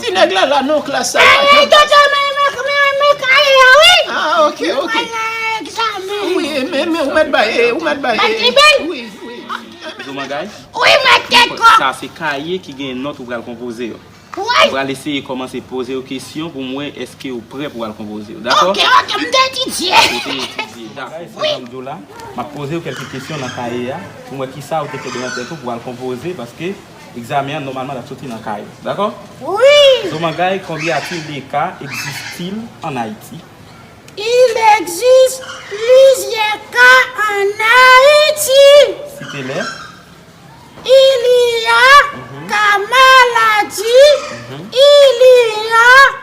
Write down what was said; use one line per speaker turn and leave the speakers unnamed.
Ti nèg la la non klas sa yo ajan baz. Jouman
guys,
sa se kaye ki
gen nòt ou pral konpoze yo. Ou pral
eseye kòmanse
poze yo kesyon pou m wè eske ou prè pou w al konpoze yo. Dakò? Ou te etidye,
dakò. Sa jan
m di w la, m ap poze yo kèlke kesyon nan kaye a pou m wè kisa ou te kenbe nan tèt ou pou w al konpoze paske. Egzamen an nòmalman tap soti nan kay ou dakò? Wi! Zomangay
konbyen a
pil de ka egzistil an Ayiti? Il
existe plusieurs cas en Haïti. Site lè? Il y a ka maladi, il y a.